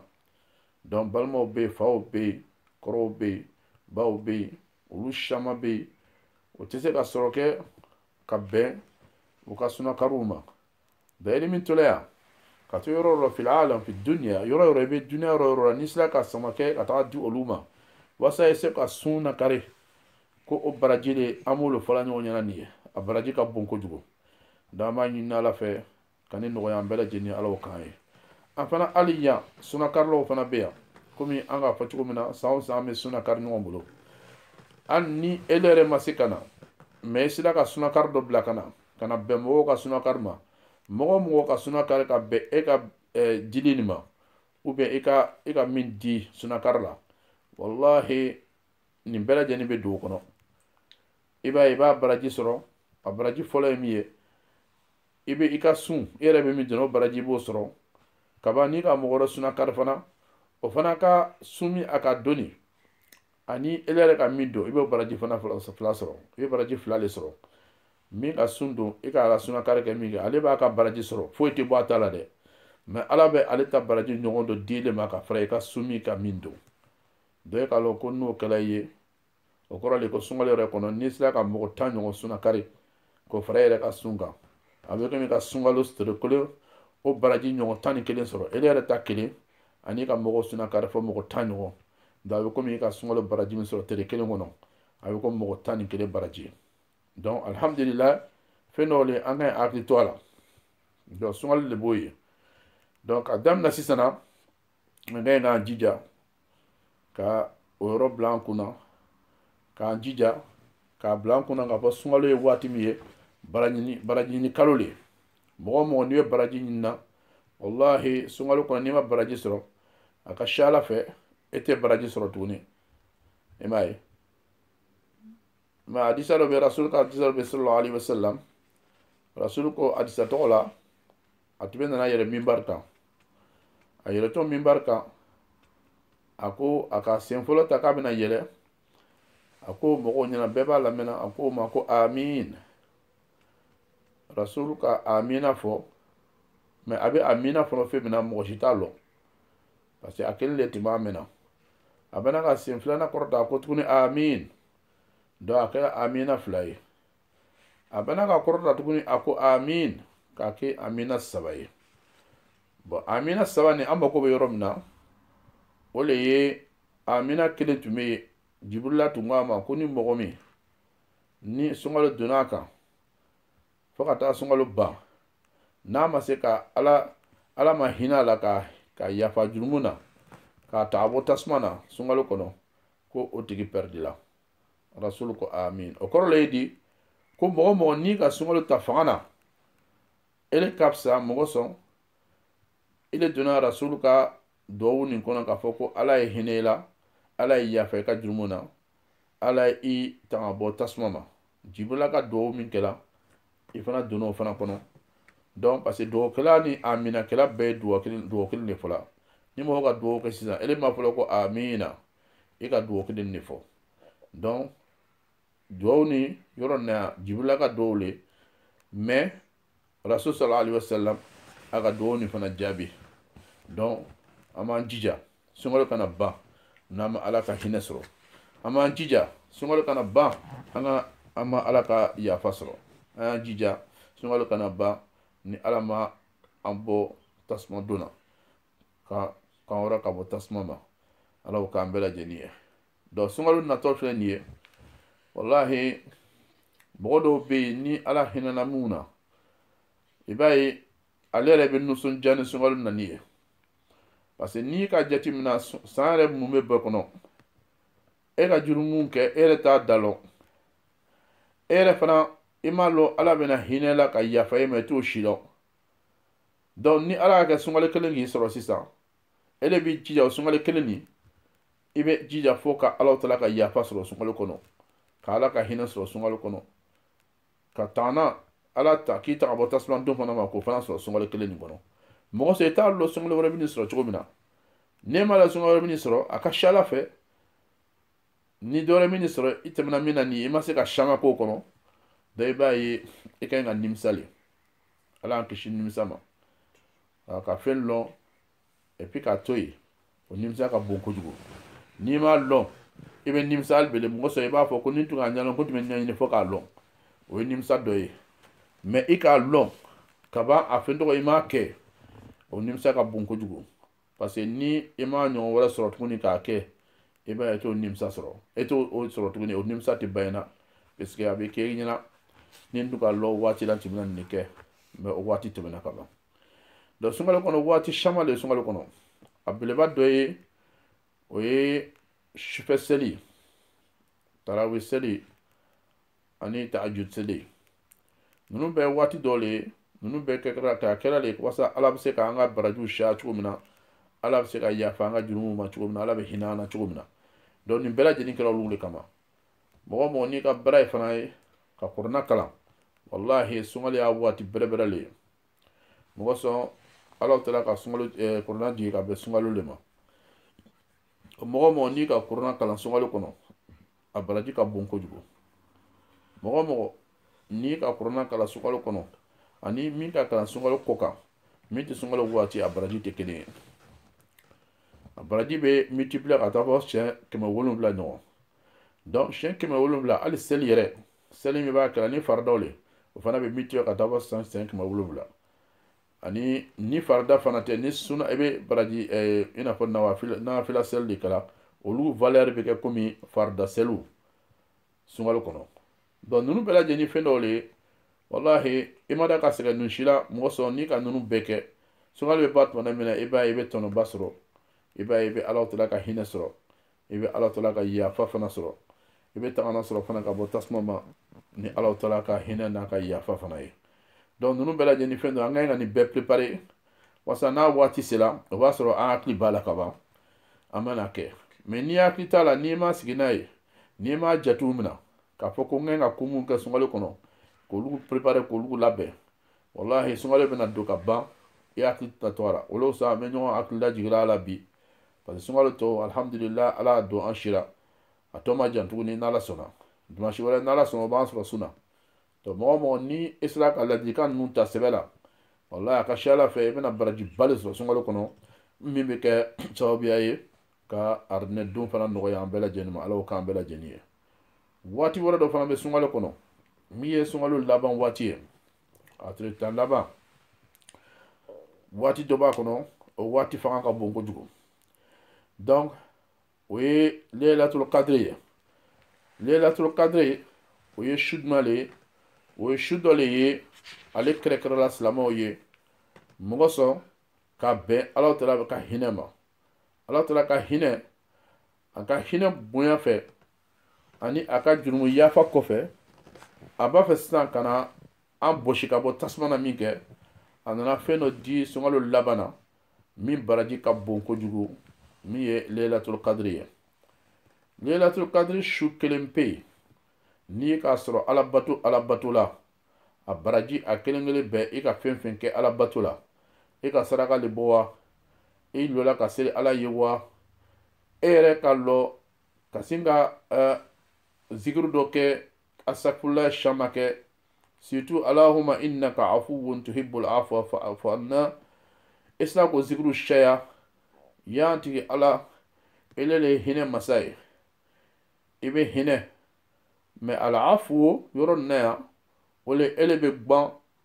Speaker 1: donc balimaw bɛ yen faw bɛ yen kɔrɔw bɛ yen baw bɛ yen olu caman bɛ yen o tɛ se ka sɔrɔ kɛ ka bɛn u ka sunakariw ma bɛɛ ni min tola yan ka to yɔrɔ yɔrɔ fil alam fi duniya yɔrɔ yɔrɔ i bɛ duniya yɔrɔ yɔrɔ la n'i sera ka sama kɛ ka taga di olu ma walasa i se ka sunakari kɛ o baraji de an b'olu fɔla ɲɔgɔn ɲɛna nin ye a baraji ka bon kojugu donc an b'a ɲini ala fɛ ka nin nɔgɔya an bɛɛ lajɛlen alaw kan ye an fana hali yan sunakarilaw fana bɛ yan komi an k'a fɔ cogo min na san o san an bɛ sunakari ɲɔgɔn bolo hali ni ele yɛrɛ ma se ka na mais i sera ka sunakari dɔ bila ka na ka na bɛn mɔgɔw ka sunakari ma mɔgɔ mɔgɔ ka sunakari ka bɛn e ka dilen nin ma ou bien i ka i ka min di sunakari la walahi nin bɛɛ lajɛlen bɛ don o kɔnɔ i b'a ye i b'a baraji sɔrɔ a baraji fɔlɔ ye min ye i bɛ i ka sun i yɛrɛ bɛ min don o baraji i b'o sɔrɔ kaban n'i ka mɔgɔ wɛrɛ sunakari fana o fana ka sun min a ka don nin ani ele yɛrɛ ka min don i b'o baraji fana fila sɔrɔ i bɛ baraji fila de sɔrɔ min ka sun don i k'a ka sunakari kɛ min kɛ ale b'a ka baraji sɔrɔ foyi tɛ bɔ a ta la dɛ mais ala bɛ ale ta baraji ɲɔgɔn dɔ di ele ma ka fara i ka sun nin kan min don donc e k'a lɔn ko n'o kɛla i ye o kɔrɔ de ko sunkalo yɛrɛ kɔnɔ n'i sera ka mɔgɔ tan ɲɔgɔn sunakari k'o fara e yɛrɛ ka sun kan a bɛ komi i ka sunkalo tere kelen o baraji ɲɔgɔn tan ni kelen sɔrɔ e yɛrɛ ta kelen ani i ka mɔgɔ sunakari fɔ mɔgɔ tan ɲɔgɔn donc a bɛ komi i ka sunkalo baraji min sɔrɔ tere kelen kɔnɔ a bɛ komi mɔgɔ tan ni kelen baraji ye donc alihamudulila fɛn dɔw le an ka ɲi hakili to a la donc sunkalo de b'o ye donc ka daminɛ sisan na an ka ɲi k'an jija ka o yɔrɔ bila an kunna k'an jija k'a bila an kunna k'a fɔ sunkalo ye waati min ye baraji ɲini kalo le mɔgɔ mɔgɔ n'i ye baraji ɲinina walahi sunkalo kɔnɔ n'i ma baraji sɔrɔ a ka ca a la fɛ e tɛ baraji sɔrɔ tuguni i m'a ye mais hadisa dɔ bɛ rasul ka hadisa dɔ bɛ sallallahu alaihi wasallam rasul ko hadisa tɔgɔ la a tun bɛ nana yɛlɛ minbar kan a yɛlɛtɔ minbar kan a ko a ka sen fɔlɔ ta k'a bɛna yɛlɛ a ko mɔgɔw ɲɛna bɛɛ b'a lamɛnna a ko o ma ko amin rasulu ka amina fɔ mais a bɛ amina fɔla fɛn min na mɔgɔ si t'a lɔn parce que a kelen de tun b'a mɛnna a bɛna ka sen filanan kɔrɔta a ko tuguni amin donc a kɛla amina fila ye a bɛna ka kɔrɔta tuguni a ko amin k'a kɛ amina saba ye bɔn amina saba nin an mako bɛ yɔrɔ min na o le ye amina kelen tun bɛ yen jibrila tun ko a ma ko ni mɔgɔ min ni sunkalo donna a kan fo ka taa sunkalo ban n'a ma se ka ala ala ma hinɛ a la ka ka yafa jurumu na k'a ta a bɔ tasuma na sunkalo kɔnɔ ko o tigi pɛridila rasulu ko amin o kɔrɔ le ye di ko mɔgɔ o mɔgɔ n'i ka sunkalo ta fanga na ele ka fisa mun kosɔn ele donna rasulu ka duwawu nin kɔnɔ k'a fɔ ko ala ye hinɛ i la ala ye yafa i ka jurumu na ala ye i tanga bɔ tasuma ma jibirila ka duwawu min kɛla i fana donna o fana kɔnɔ donc parce que dugawukɛla ni aminakɛla bɛɛ ye dugawu kelen le fɔla ni mɔgɔ ka dugawu kɛ sisan ele m'a fɔ la ko amina i ka dugawu kelen le fɔ donc dugawu nin yɔrɔ nin na jibirila ka dugawu le mais rasul sallallahu alaihi wasallam a ka dugawu nin fana jaabi donc an b'an jija sunkalo kana ban n'an ma ala ka hinɛ sɔrɔ an b'an jija sunkalo kana ban an ka an ma ala ka yafa sɔrɔ an y'an jija sunkalo kana ban ni ala ma an bɔ tasuma don na ka kan wɛrɛ ka bɔ tasuma ma ala k'o k'an bɛɛ lajɛlen ye donc sunkalo natɔ filɛ nin ye walahi mɔgɔ dɔw bɛ yen ni ala hinɛna minnu na i b'a ye ale yɛrɛ bɛ nisɔndiya ni sunkalo nani ye parce que n'i ka jate minɛ san yɛrɛ mumɛ bɛɛ kɔnɔ e ka jurumu kɛ e yɛrɛ t'a da lɔn e yɛrɛ fana i m'a lɔn ala bɛna hinɛ i la ka yafa e ma i t'o si lɔn donc ni ala k'a kɛ sunkalo kelen k'i sɔrɔ sisan e le b'i jija o sunkalo kelen nin i b'i jija fo ka ala taala ka yafa sɔrɔ sunkalo kɔnɔ ka ala ka hinɛ sɔrɔ sunkalo kɔnɔ ka taana ala ta k'i ta ka bɔ tasuma don fana ma k'o fana sɔrɔ sunkalo kelen nin kɔnɔ mun kosɔn i t'a lɔn sunkalo wɛrɛ bɛna i sɔrɔ cogo min na n'e m'a lɔn sunkalo wɛrɛ bɛna i sɔrɔ a ka siya la fɛ ni dɔ wɛrɛ bɛna i sɔrɔ i tɛmɛna min na nin ye i ma se ka siyaman k'o kɔnɔ donc i b'a ye i ka ɲi ka nimisa le ala y'an kisi nimisa ma ka fɛn lɔn et puis k'a to yen o nimisa ka bon kojugu n'i m'a lɔn i bɛ nimisa hali bele mun kosɔn i b'a fɔ ko ni n tun k'a ɲɛlɔn ko n tun bɛ ɲɛɲini fo k'a lɔn o ye nimisa dɔ ye mais i k'a lɔn ka ban a fɛn tɔgɔ i m'a kɛ o nimisa ka bon kojugu parce que ni i m'a ɲɔgɔn wɛrɛ sɔrɔ tuguni k'a kɛ i b'a ye e t'o nimisa sɔrɔ e t'o o sɔrɔ tuguni o nimisa tɛ ban i na parce que a bɛ kɛ i ɲɛna ni n tun k'a lɔn o waati la n tun bɛna nin de kɛ mais o waati tɛmɛna ka ban dɔ sunkalo kɔnɔ waati caman le sunkalo kɔnɔ a beleba dɔ ye o ye sufɛ seli tarawi seli ani tahajud seli ninnu bɛɛ waati dɔ le ye ninnu bɛɛ kɛra k'a kɛra le walasa ala bɛ se ka an ka barajiw siya cogo min na ala bɛ se ka yafa an ka jurumuw ma cogo min na ala bɛ hinɛ an na cogo min na donc nin bɛɛ lajɛlen kɛra olugu le kama mɔgɔ mɔgɔ n'i ka baara ye fana ye ka kurana kalan walahi sunkalo y'a waati bɛrɛbɛrɛ le ye mun kosɔn ala tala ka sunkalo eh, kurana jigin ka bɛn sunkalo le ma mɔgɔ mɔgɔ n'i ka kurana kalan sunkalo kɔnɔ a baraji ka bon kojugu mɔgɔ mɔgɔ n'i ka kurana kalan sunkalo kɔnɔ ani min k'a kalan sunkalo kɔkan min tɛ sunkalo waati a baraji tɛ kelen ye a baraji bɛ multiplier ka taa fɔ siɲɛ kɛmɛ wolonwula ɲɔgɔn donc siɲɛ kɛmɛ wolonwula hali seli yɛrɛ seli min b'a kɛla ni faridaw le o fana bɛ multiplier ka taa fɔ san siɲɛ kɛmɛ wolonwula ani ni farida fana tɛ ni suna i bɛ baraji ɛɛ i n'a fɔ nawafila seli de kɛla olugu valeur bɛ kɛ komi farida seliw sunkalo kɔnɔ donc ninnu bɛɛ lajɛlen ye fɛn dɔw le ye walahi i ma da ka sɛgɛn ninnu si la mun kosɔn n'i ka ninnu bɛɛ kɛ sunkalo bɛ ban tuma min na i b'a ye i bɛ tɔnɔba sɔrɔ i b'a ye i bɛ ala tala ka hinɛ sɔrɔ i bɛ ala tala ka yafa fana sɔrɔ i bɛ tagana sɔrɔ fana ka bɔ tasuma ma ni ala tala ka hinɛ n'a ka yafa fana ye donc ninnu bɛɛ lajɛlen ni fɛn dɔ an ka ɲi ka nin bɛɛ préparer wasa n'a waati sera o b'a sɔrɔ an hakili b'a la ka ban an mana kɛ mais n'i hakili t'a la n'i ma sigi n'a ye n'i m'a jatew minɛ k'a fɔ ko n ka kan ka mun kɛ sunkalo kɔnɔ k'olugu préparer k'olugu labɛn walahi sunkalo bɛna don ka ban i hakili tɛ to a la o la sa an bɛ ɲɔgɔn hakili lajigila a la bi parce que sunkalo tɔ alihamudulila ala y'a don an si la a tɔ ma jan tuguni n'ala sɔnna dimansi wɛrɛ n'ala sɔnna o b'an sɔrɔ sun na donc mɔgɔ o mɔgɔ ni i sera ka ladilikan ninnu ta sɛbɛ la walahi a ka siya ala fɛ i bɛna barajiba le sɔrɔ sunkalo kɔnɔ min bɛ kɛ sababuya ye ka aridinɛ don fana nɔgɔya an bɛɛ lajɛlen ma ala k'an bɛɛ lajɛlen ye waati wɛrɛ dɔ fana bɛ sunkalo kɔnɔ min ye sunkalo laban waati ye a tile tan laban waati dɔ b'a kɔnɔ o waati fanga ka bon kojugu donc o ye leelatul kadiri ye leelatul kadiri o ye su jumɛn le ye o ye su dɔ le ye ale kɛrɛkɛrɛla silamɛw ye mun kosɔn ka bɛn ala tala ka hinɛ ma ala taala ka hinɛ a ka hinɛ bonya fɛ ani a ka jurumu yafa kɔfɛ a b'a fɛ sisan ka na an bɔsi ka bɔ tasuma na min kɛ a nana fɛn dɔ di sunkalo laban na min baraji ka bon kojugu min ye leelatul kadiri ye leelatul kadiri su kelen pe yen n'i k'a sɔrɔ alabato alabato la a baraji a kelen kelen bɛɛ i ka fɛn fɛn kɛ ala bato la i ka saraka le bɔ wa i lɔla ka seli ala ye wa e yɛrɛ ka lɔ ka sin ka uh, zikiri dɔ kɛ asafurulayi shaman kɛ surtout allahumma innaka afuwun tuhibbul afwa fa'fu anna i sera k'o zikiri caya ya n tigi ala ele le hinɛ masa ye i bɛ hinɛ mais alafu yɔrɔ nin na yan o le ele bɛ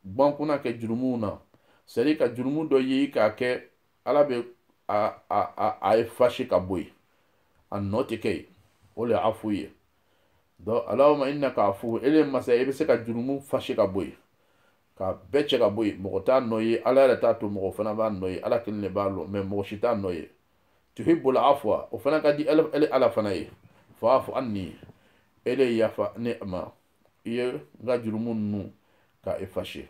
Speaker 1: gban kunna kɛ jurumuw na c'est-à-dire ka jurumu dɔ ye i k'a kɛ ala bɛ a a a a effacer ka bɔ yen a nɔ tɛ kɛ yen o le afu ye donc allahumma innaka afu ele masa i bɛ se ka jurumu effacer ka bɔ yen ka bɛɛ cɛ ka bɔ yen mɔgɔ t'a nɔ ye ala yɛrɛ t'a to mɔgɔ fana b'a nɔ ye ala kelen de b'a lɔn mais mɔgɔ si t'a nɔ ye tuhibbul afwa o fana ka di ele ala fana ye fa'fu anni ele yafa ne ma i ye n ka jurumu ninnu ka effacer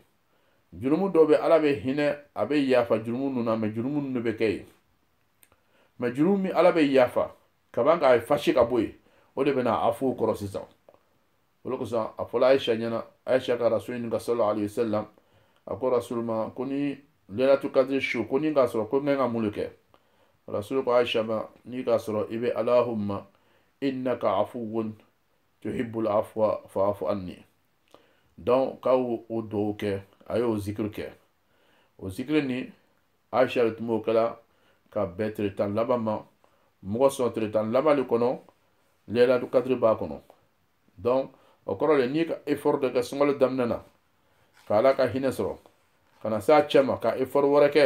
Speaker 1: jurumu dɔw bɛ ala bɛ hinɛ a bɛ yafa jurumu ninnu na mais jurumu ninnu bɛ kɛ yen mais jurumu min ala bɛ yafa kaban k'a effacer ka bɔ yen o de bɛna afu kɔrɔ sisan o de kosɔn a fɔla ayisa ɲɛna ayisa ka rasul ɲininka sallallahu alayhi wa sallam a ko rasul ma ko ni leilatul qadri su ko ni n k'a sɔrɔ ko n ka kan ka mun de kɛ rasul ko ayisa ma n'i k'a sɔrɔ i bɛ allahumma innaka afuwun tuhibbul afwa fa'fu anni donc k'a y'o o duwawu kɛ a y'o zikiri kɛ o zikiri nin ayisa de tun b'o kɛla ka bɛn tile tan laban ma mɔgɔ sɔn tile tan laban de kɔnɔ leilatul qadri b'a kɔnɔ donc o kɔrɔ le n'i ka effort dɔ kɛ sunkalo daminɛ na ka ala ka hinɛ sɔrɔ ka na s'a cɛma ka effort wɛrɛ kɛ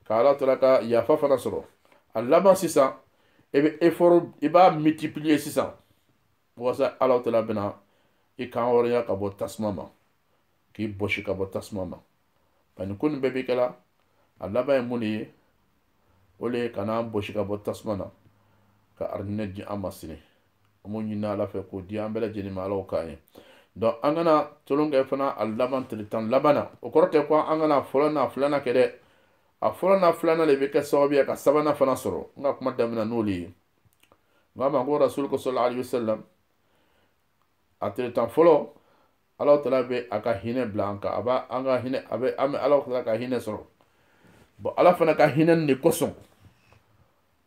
Speaker 1: ka ala tala ka yafa fana sɔrɔ a laban sisan i bɛ effort i b'a multiplier sisan walasa ala tala bɛna i kan hɔrɔnya ka bɔ tasuma ma k'i bɔsi ka bɔ tasuma ma nka nin ko nin bɛɛ bɛ kɛla a laban ye mun de ye o le ye ka n'an bɔsi ka bɔ tasuma na ka arijinɛ di an ma sini an b'o ɲini ala fɛ k'o di an bɛɛ lajɛlen ma ala k'an ye donc an kana tolon kɛ fana a laban tile tan laban na o kɔrɔ tɛ ko an kana a fɔlɔ n'a filanan kɛ dɛ a fɔlɔ n'a filanan de bɛ kɛ sababu ye ka sabanan fana sɔrɔ n ka kuma daminɛ n'olu ye n k'aw ma ko rasul ko sallallahu alayhi wa sallam a tile tan fɔlɔ ala tala bɛ a ka hinɛ bila an kan a b'a an ka hinɛ a bɛ an bɛ ala tala ka hinɛ sɔrɔ bon ala fana ka hinɛ nin de kosɔn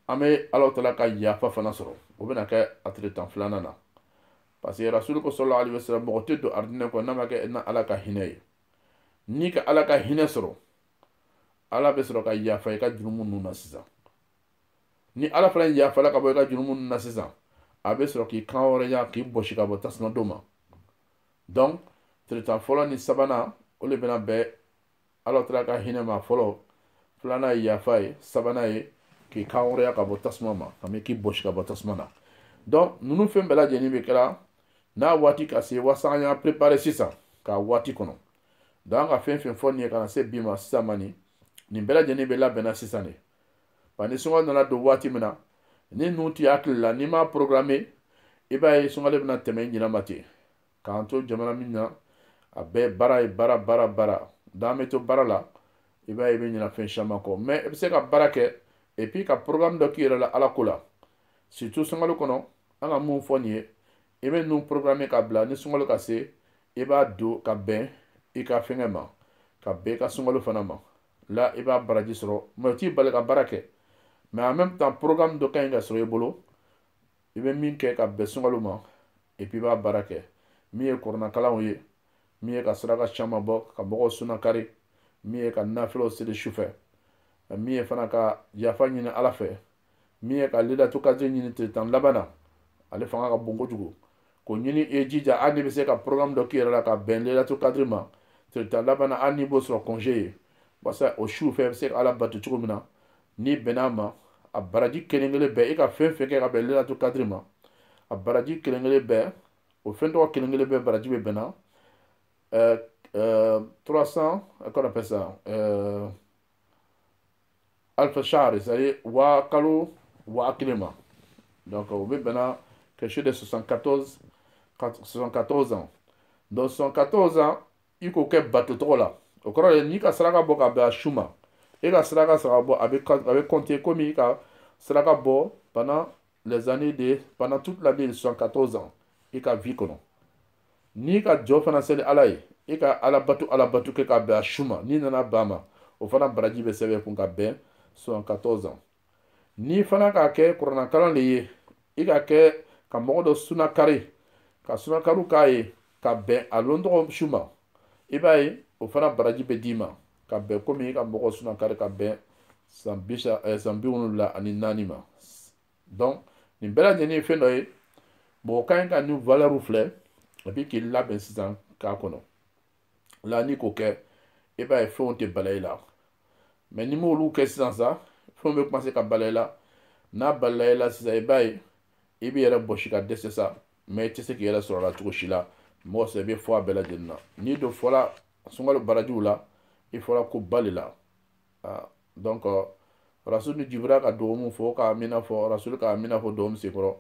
Speaker 1: an bɛ ala tala ka yafa fana sɔrɔ o bɛna kɛ a tile tan filanan na parce que rasul ko sallallahu alayhi wa sallam mɔgɔ tɛ don aridinɛ kɔnɔ n'a ma kɛ n'ala ka hinɛ ye n'i ka ala ka hinɛ sɔrɔ ala bɛ sɔrɔ ka yafa i ka jurumu ninnu na sisan ni ala fana yafala ka bɔ i ka jurumu na sisan a bɛ sɔrɔ k'i kan hɔrɔnya k'i bɔsi ka bɔ tasuma don ma donc tile tan fɔlɔ ni sabanan o de bɛna bɛn ala tala ka hinɛ ma fɔlɔ filanan ye yafa ye sabanan ye k'i kan hɔrɔnya ka bɔ tasuma ma ka mɛ k'i bɔsi ka bɔ tasuma na donc ninnu fɛn bɛɛ lajɛlen bɛ kɛra n'a waati ka se walasa an y'an préparer sisan k'a waati kɔnɔ donc an ka fɛn fɛn fɔ nin ye ka na se bi ma sisan ma nin nin bɛɛ lajɛlen bɛ labɛnna sisan de ba ni sunkalo nana don waati min na ni ninnu t'i hakili la n'i m'a programmer i b'a ye sunkalo bɛna tɛmɛ i ɲinɛ ma ten k'an to jamana min na a bɛɛ baara ye baara baara baara n'an bɛ to baara la i b'a ye i bɛ ɲinɛ fɛn caman kɔ mais i bɛ se ka baara kɛ et puis ka programme dɔ k'i yɛrɛ la ala ko la surtout sunkalo kɔnɔ an ka mun fɔ nin ye i bɛ ninnu programmer ka bila ni sunkalo ka se i b'a don ka bɛn i ka fɛngɛ ma ka bɛn i ka sunkalo fana ma là i b'a baraji sɔrɔ mais o t'i bali ka baara kɛ mais en même temps programme dɔ ka ɲi ka sɔrɔ i bolo i bɛ min kɛ ka bɛn sunkalo ma et puis i b'a baara kɛ min ye kuranakalanw ye min ye ka saraka caman bɔ ka mɔgɔw sunakari min ye ka nafilaw seli sufɛ min ye fana ka yafa ɲini ala fɛ min ye ka laylatul kadri ɲini tile tan laban na ale fanga ka bon kojugu k'o ɲini i jija hali n'i bɛ se ka programme dɔ k'i yɛrɛ la ka bɛn laylatul kadri ma tile tan laban na hali n'i b'o sɔrɔ congé ye walasa o su fɛ i bɛ se ka ala bato cogo min na n'i bɛnna a ma a baraji kelen kelen bɛɛ i ka fɛn fɛn kɛ ka bɛn laylatul kadri ma a baraji kelen kelen bɛɛ o fɛn tɔgɔ kelen kelen bɛɛ baraji bɛ bɛnna ɛɛ 300 qu'on appelle ça euh, alfa shahri c'est à dire waa kalo waa kelen ma donc o bɛ bɛnna quelque chose de 74 74 ans donc 74 ans i k'o kɛ bato tɔgɔ la o kɔrɔ ye n'i ka saraka bɔ ka bɛn a su ma e ka saraka saraka bɔ a bɛ a bɛ compter komi i ka saraka bɔ pendant les années de pendant toute l'année de 74 ans i ka vie kɔnɔ n'i ka jɔ fana seli ala ye i ka ala bato ala bato kɛ k'a bɛn a su ma n'i nana bɛn a ma o fana baraji bɛ sɛbɛn i kun ka bɛn 74 ans n'i fana k'a kɛ kuranakalan de ye i k'a kɛ ka mɔgɔ dɔ sunakari ka sunakariw k'a ye ka bɛn a lɔntɔgɔ su ma i b'a ye o fana baraji bɛ d'i ma ka bɛn komi i ka mɔgɔ sunakari ka bɛn san bi wolonwula ani naani ma donc nin bɛɛ lajɛlen ye fɛn dɔ ye mɔgɔ ka ɲi ka nin valeurw filɛ et puis k'i labɛn sisan k'a kɔnɔ là n'i k'o kɛ i b'a ye fɛnw tɛ bala i la mais n'i m'olu kɛ sisan sa fɛnw bɛ commencer ka bala i la n'a balala i la sisan i b'a ye i b'i yɛrɛ bɔsi ka dɛsɛ sa mais i tɛ se k'i yɛrɛ sɔrɔ a la cogo si la mɔgɔ sɛ i bɛ fɔ a bɛɛ lajɛlen na n'i dun fɔla sunkalo barajiw la i fɔra ko ba de la ah, donc rasul ni jibira ka dugawu min fɔ k'amina fɔ rasul k'amina fɔ dugawu min senkɔrɔ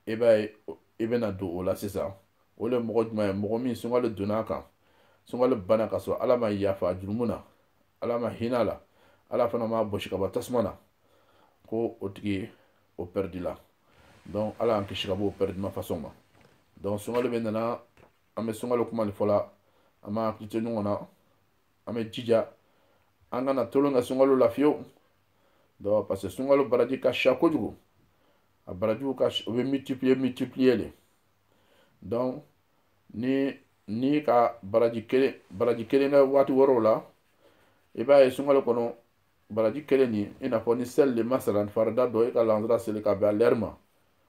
Speaker 1: i b'a ye i bɛna don o la sisan o le mɔgɔ jumɛn ye mɔgɔ min sunkalo donna a kan sunkalo bana ka sɔrɔ ala ma yafa jurumu na ala ma hinɛ a la ala fana ma bɔsi ka bɔ tasuma na ko o tigi o pɛridila donc ala y'an kisi ka bɔ o pɛridima fasɔn ma donc sunkalo bɛ nana an bɛ sunkalo kuma de fɔ la an b'an hakili to ɲɔgɔn na an bɛ jija an kana tolon kɛ sunkalo la fiyewu donc parce que sunkalo baraji ka siya kojugu a barajiw ka o bɛ multiplier multiplier de donc ni n'i ka baraji kelen baraji kelen kɛ waati wɛrɛw la i b'a ye sunkalo kɔnɔ baraji kelen nin i n'a fɔ ni seli de masalan farida dɔ i ka lansara seli ka bɛn a lɛri ma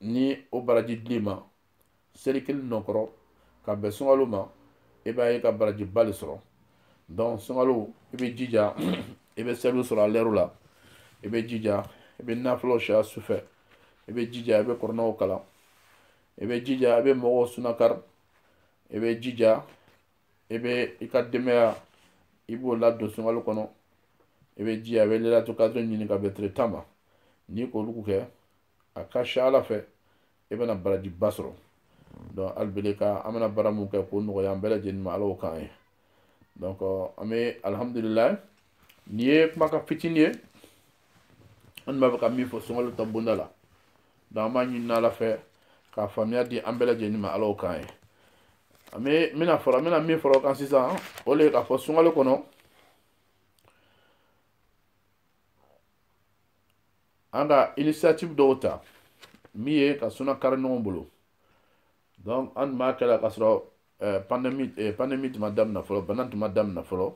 Speaker 1: ni o baraji dila i ma seli kelen n'o kɛra ka bɛn sunkalo ma i b'a ye i ka baraji ba de sɔrɔ donc sunkalo i bɛ jija i bɛ seliw sɔrɔ a lɛriw la i bɛ jija i bɛ nafilaw sɔrɔ sufɛ i bɛ jija i bɛ kuranɛ kalan i bɛ jija i bɛ mɔgɔw suna kari i bɛ jija i bɛ i ka denbaya i b'o ladon sunkalo kɔnɔ i bɛ jija i bɛ lelatu kadiri ɲini ka bɛn tile tan ma n'i k'olu kɛ a ka ca ala fɛ i bɛna barajiba sɔrɔ donc alibele ka an bɛna baara min kɛ k'o nɔgɔya an bɛɛ lajɛlen ma ala y'o k'an ye donc an bɛ alihamudulilayi nin ye kumakan fitinin ye an tun b'a fɛ ka min fɔ sunkalo ta bonda la donc an b'a ɲini ala fɛ k'a faamuya di an bɛɛ lajɛlen ma ala y'o k'an ye an bɛ min fara an bɛna min fara o kan sisan o de ye k'a fɔ sunkalo kɔnɔ an ka initiative dɔw ta min ye ka suna kari ɲɔgɔn bolo donc an tun b'a kɛ la k'a sɔrɔ eh, pandémie eh, pandémie tun ma daminɛ fɔlɔ bana tun ma daminɛ fɔlɔ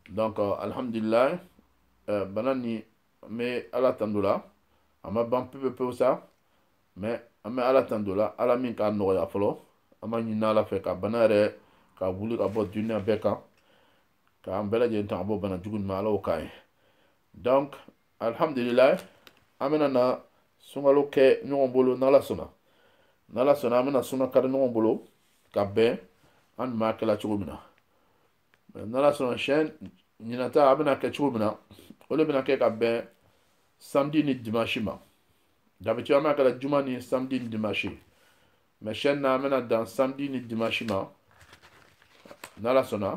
Speaker 1: donc euh, alhamdulilayi eh, bana nin an bɛ ala tando la a ma ban pepe pewu sa mais an bɛ ala tando la ala min k'a nɔgɔya fɔlɔ an b'a ɲini ala fɛ ka bana yɛrɛ ka wuli ka bɔ duniya bɛɛ kan k'an bɛɛ lajɛlen tanga bɔ bana jugu ma ala y'o k'an ye donc alhamdulilayi an bɛna na sunkalo kɛ ɲɔgɔn bolo n'ala sɔnna n'ala sɔnna an bɛna suna kari ɲɔgɔn bolo ka bɛn an tun b'a kɛla cogo min na n'ala sɔnna siyɛn ɲinan ta a bɛna kɛ cogo min na o de bɛna kɛ ka bɛn samedi ni dimanche ma d'habitude an b'a kɛla juma ni samedi ni dimanche mais siyɛn nin na an bɛna dan samedi ni dimanche ma n'ala sɔnna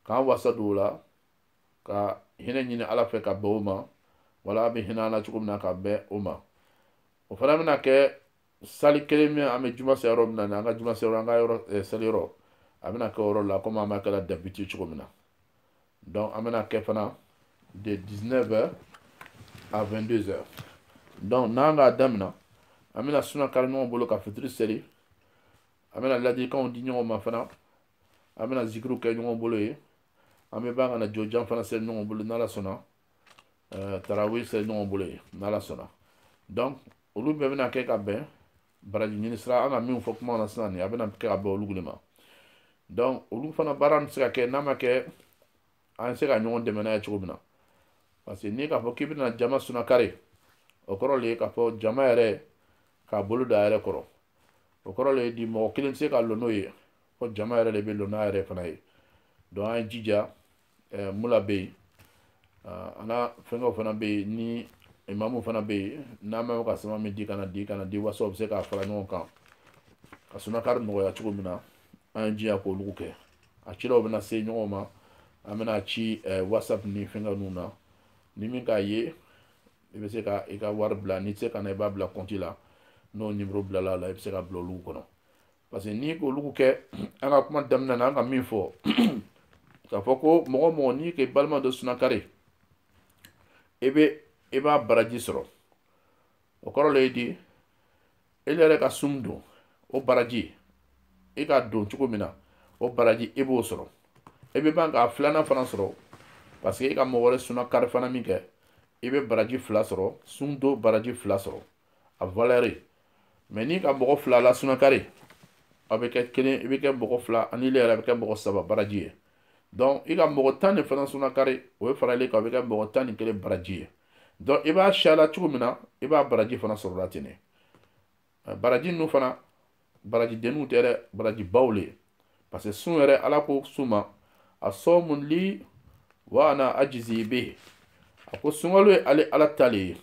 Speaker 1: k'an wasa don o la ka hinɛ ɲini ala fɛ ka bɛn o ma wala a bɛ hinɛ an na cogo min na ka bɛn o ma o fana bɛna kɛ salle kelen min an bɛ juma seli yɔrɔ min na ni an ka juma seli yɔrɔ an ka yɔrɔ seli yɔrɔ a bɛna kɛ o yɔrɔ la komi an b'a kɛla d'habitude cogo min na donc an bɛna kɛ fana de 19 heures à 22 heures donc n'an k'a damina an bɛna sunakari ɲɔgɔn bolo ka fitiri seli an bɛna ladilikanw di ɲɔgɔn ma fana an bɛna zikiriw kɛ ɲɔgɔn bolo ye an bɛ ban ka na jɔjan fana seli ɲɔgɔn bolo n'ala sɔnna tarawih seli ɲɔgɔn bolo ye n'ala sɔnna donc olu bɛɛ bɛna kɛ ka bɛn baraji ɲini sira an ka min fɔ kuma na sisan nin a bɛna kɛ ka bɛn olugu le ma donc olu fana baara bɛ se ka kɛ n'a ma kɛ an bɛ se ka ɲɔgɔn dɛmɛ n'a ye cogo min na parce que n'i k'a fɔ k'i bɛna jama sunakari o kɔrɔ le ye k'a fɔ jama yɛrɛ k'a bolo da a yɛrɛ kɔrɔ o kɔrɔ le ye di mɔgɔ kelen tɛ se ka lɔ n'o ye fo jama yɛrɛ le bɛ lɔ n'a yɛrɛ fana ye donc an ye jija ɛɛ mula bɛ yen ana fɛnkɛw fana bɛ yen ni imamu fana bɛ yen n'an bɛ ka sama min di ka n'a di ka n'a di wasa o bɛ se k'a fara ɲɔgɔn kan ka sunakari nɔgɔya cogo min na an ye jija k'olugu kɛ a cilaw bɛna se ɲɔgɔn ma an bɛna ci ɛɛ whatsapp ni fɛnkɛ ninnu na ni min k'a ye i bɛ se ka i ka wari bila n'i tɛ se ka na i b'a bila kɔnti la n'o nimoro bilala a la i bɛ se ka bila olugu kɔnɔ parce que n'i k'olugu kɛ an ka kuma damina na an ka min fɔ k'a fɔ ko mɔgɔ mɔgɔ n'i k'i balima dɔ sunakari i bɛ i b'a baraji sɔrɔ o kɔrɔ le ye di ile yɛrɛ ka sun don o baraji i k'a don cogo min na o baraji i b'o sɔrɔ i bɛ ban k'a filanan fana sɔrɔ parce que i ka mɔgɔ wɛrɛ sunakari fana min kɛ i bɛ baraji fila sɔrɔ sun don baraji fila sɔrɔ a valeur ye mais n'i ka mɔgɔ fila la sunakari a bɛ kɛ kelen i bɛ kɛ mɔgɔ fila ani ile yɛrɛ bɛ kɛ mɔgɔ saba baraji ye donc i ka mɔgɔ tan de fana sunakari o ye fara ile kan o bɛ kɛ mɔgɔ tan ni kelen baraji ye donc i b'a siyala cogo min na i b'a baraji fana sɔrɔla ten de baraji ninnu fana baraji denniw tɛ dɛ baraji baw le ye parce que sun yɛrɛ ala ko sun ma asɔmu li wa ana ajizi bihi a ko sunkalo ye ale ala ta le ye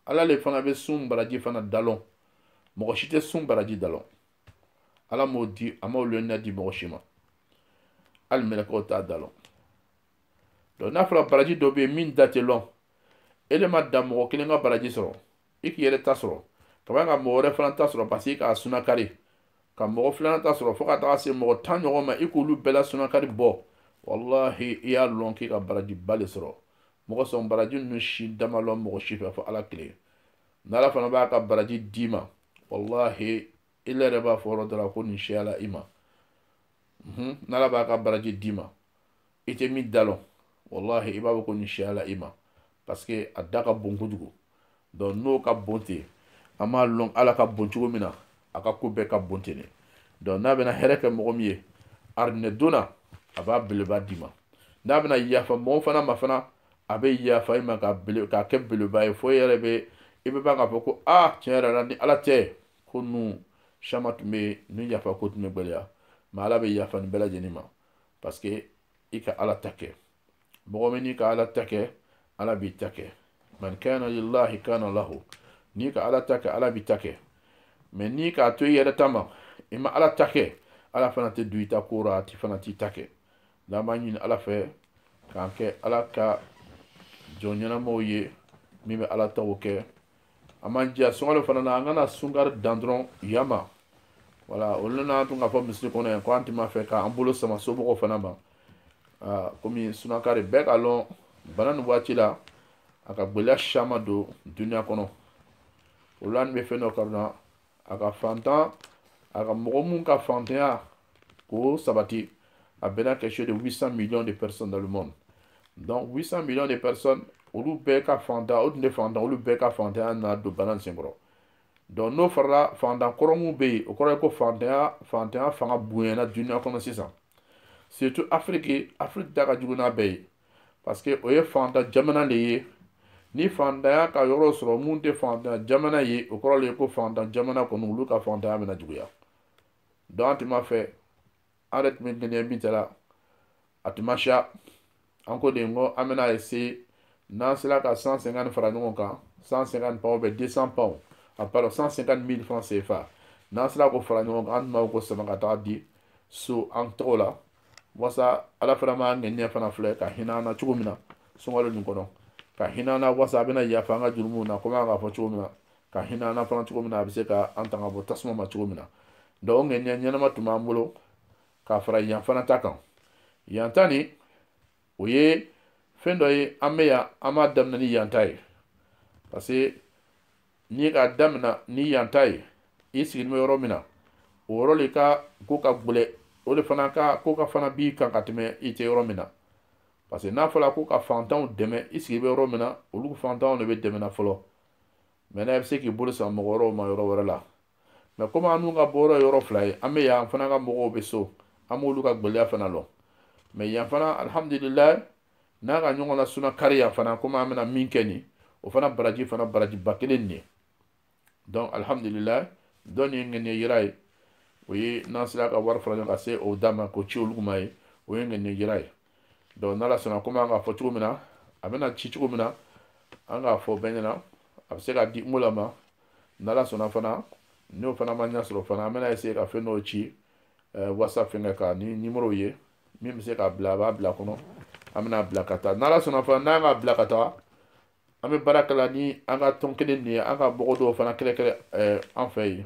Speaker 1: ala le fana bɛ sun baraji fana da lɔn mɔgɔ si tɛ sun baraji da lɔn ala m'o di a m'o lɔnniya di mɔgɔ si ma hali mɛlɛkɛw t'a da lɔn donc n'a fɔra baraji dɔ bɛ yen min da tɛ lɔn ile ma dan mɔgɔ kelen ka baraji sɔrɔ i k'i yɛrɛ ta sɔrɔ ka ban ka mɔgɔ wɛrɛ fana ta sɔrɔ parce que i k'a sunakari ka mɔgɔ filanan ta sɔrɔ fo ka taga se mɔgɔ tan ɲɔgɔn ma i k'olu bɛɛ la sunakari bɔ walahi i y'a lɔn k'i ka barajiba le sɔrɔ mɔgɔ sɔn baraji ninnu si da ma lɔn mɔgɔ si fɛ fo ala kelen n'ala fana b'a ka baraji d'i ma walahi ile yɛrɛ b'a fɔ yɔrɔ dɔ la ko nin siyala i ma n'ala b'a ka baraji d'i ma i tɛ min da lɔn walahi i b'a fɔ ko nin siyala i ma parce que a da ka bon kojugu donc n'o ka bon ten an b'a lɔn ala ka bon cogo min na a ka ko bɛɛ ka bon ten de donc n'a bɛna hɛrɛ kɛ mɔgɔ min ye arijinɛ donna a b'a beleba d'i ma n'a bɛna yafa mɔgɔ fana ma fana a bɛ yafa i ma k'a bele k'a kɛ beleba ye fo e yɛrɛ bɛ i bɛ ban k'a fɔ ko aa tiɲɛ yɛrɛ la ni ala tɛ ko ninnu caman tun bɛ ni yafa ko tun bɛ gɛlɛya mais ala bɛ yafa nin bɛɛ lajɛlen ma parce que i ka ala ta kɛ mɔgɔ min n'i ka ala ta kɛ ala b'i ta kɛ man kana lillahi kana lahu n'i ka ala ta kɛ ala b'i ta kɛ mais n'i k'a to i yɛrɛ ta ma i ma ala ta kɛ ala fana tɛ don i ta ko ra a ti fana t'i ta kɛ n'an b'a ɲini ala fɛ k'an kɛ ala ka jɔn ɲɛnamaw ye min bɛ ala taw kɛ an b'an jija sunkalo fana na an kana sunkari dan dɔrɔn yan ma voilà o le na an tun k'a fɔ misiri kɔnɔ yan ko an tun b'a fɛ k'an bolo sama somɔgɔw fana ma komi sunakari bɛɛ k'a lɔn bana nin waati la a ka gɛlɛya caman don duniya kɔnɔ olu an bɛ fɛn dɔ corona a ka fantan a ka mɔgɔ mun ka fantanya k'o sabati a bɛnna quelque chose de 800 millions de personnes dans le monde donc 800 millions de personnes olu bɛɛ ka fantan o tun tɛ fantan olu bɛɛ ka fantanya nana don bana sen kɔrɔ donc n'o farala fantan kɔrɔ mun bɛ yen o kɔrɔ ye ko fantanya fantanya fanga bonyana duniya kɔnɔ sisan surtout afiriki afiriki ta ka jugu n'a bɛɛ ye parce que o ye fantan jamana de ye ni fantanya ka yɔrɔ sɔrɔ mun tɛ fantan jamana ye o kɔrɔ le ye ko fantan jamana kɔni olu ka fantanya bɛna juguya donc an tun b'a fɛ an yɛrɛ tun bɛ ŋɛniya min ta la a tun ma siya an ko de n ko an bɛna essayer n'an sera ka 150 fara ɲɔgɔn kan 150 pounds ou bien 200 pounds a pardon 150 mille francs CFA n'an sera k'o fara ɲɔgɔn kan an tun b'a fɛ k'o sama ka taa di so an tɔgɔ la wasa ala fana b'an ŋɛniya fana filɛ ka hinɛ an na cogo min na sunkalo nin kɔnɔ ka hinɛ an na wasa a bɛna yafa an ka jurumu na komi an k'a fɔ cogo min na ka hinɛ an na fana cogo min na a bɛ se ka an tanga bɔ tasuma ma cogo min na donc o ŋɛniya ɲɛnama tun b'an bolo ka fara yan fana ta kan yan ta nin o ye fɛn dɔ ye an bɛ yan an b'a daminɛ ni yan ta ye parce que n'i k'a damina ni yan ta ye i sigilen bɛ yɔrɔ min na o yɔrɔ de ka ko ka gɛlɛn o de fana ka ko ka fana b'i kan ka tɛmɛ i tɛ yɔrɔ min na parce que n'a fɔra ko ka fantanw dɛmɛ i sigi bɛ yɔrɔ min na olu fantanw de bɛ dɛmɛna fɔlɔ mais n'a bɛ se k'i bolo sama mɔgɔ wɛrɛw ma yɔrɔ wɛrɛ la mais komi annu ka bɔyɔrɔ ye yɔrɔ fila ye an bɛ yan an fana ka mɔgɔw bɛ so an b'olu ka gɛlɛya fana lɔn mais yan fana alihamudulilayi n'a ka ɲɔgɔn la suna kari yan fana komi an bɛna min kɛ nin o fana baraji fana barajiba kelen nin ye donc alhamdulilayi dɔ nin ye ŋaniya yira ye o ye n'an sera ka wari fara ɲɔgɔn ka se o da ma k'o ci olu ma ye o ye ŋaniya yira ye donc n'ala sɔnna komi an k'a fɔ cogo min na a bɛna ci cogo min na an k'a fɔ bɛɛ ɲɛ na a bɛ se ka di ngo la ma n'ala sɔnna fana n'o fana ma ɲɛ sɔrɔ fana an bɛna essayer ka fɛn dɔw ci whatsapp fɛngɛ kan ni numéro ye min bɛ se k'a bila a b'a bila kɔnɔ an bɛna bila ka taa n'ala sɔnna fana n'an k'a bila ka taa an bɛ baara kɛla ni an ka tɔn kelen nin ye an ka mɔgɔ dɔw fana kɛlɛkɛlɛ an fɛ yen